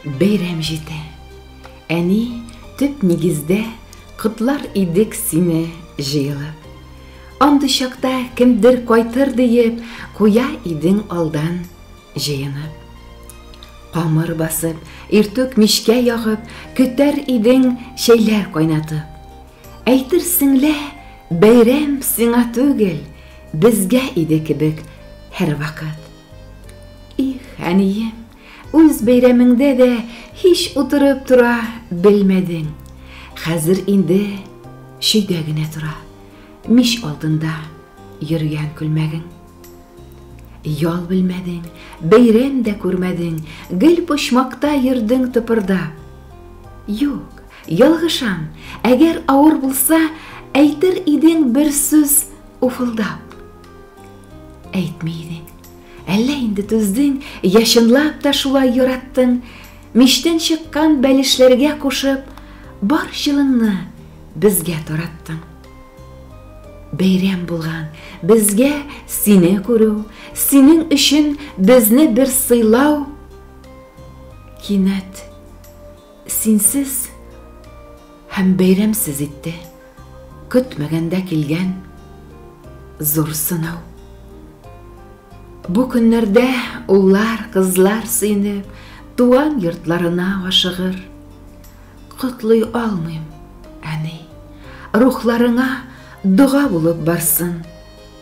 Бәйрәм җитә. Әни, төп нигездә, котлар идек сине җыелып. Андый чакта кемдер кайтыр диеп, куя идең алдан җыенып. Камыр басып, иртүк мичкә ягып, көтәр идең чәйләр кайнатып. Әйтерсең лә, бәйрәм сиңа түгел, безгә иде кебек һәрвакыт. Их, әнием, Үз бәйрәмеңдә дә һич утырып тора белмәдең. Хәзер инде чөйдә генә тора. Мич алдында йөргән күлмәгең. Ял белмәдең, бәйрәм дә күрмәдең, гел почмакта йөрдең тыпырда. Юк, ялгышам, әгәр авыр булса, әйтер идең бер сүз уфылдап. Әйтми идең. Әллә инде түздең, яшынлап та шулай яраттың. Миштән чыккан бәлешләргә кушып, бар җылыңны безгә тараттың. Бәйрәм булган безгә сине күрү, синең өчен безне бер сыйлау. Кинәт синсез Һәм бәйрәмсез итте. Көтмәгәндә килгән зур сынау. Бу көннәрдә уллар, кызлар сөенеп, туган йортларына ашыгыр. Котлый алмыйм, әни. Рухларыңа дога булып барсын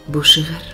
бу шигырь.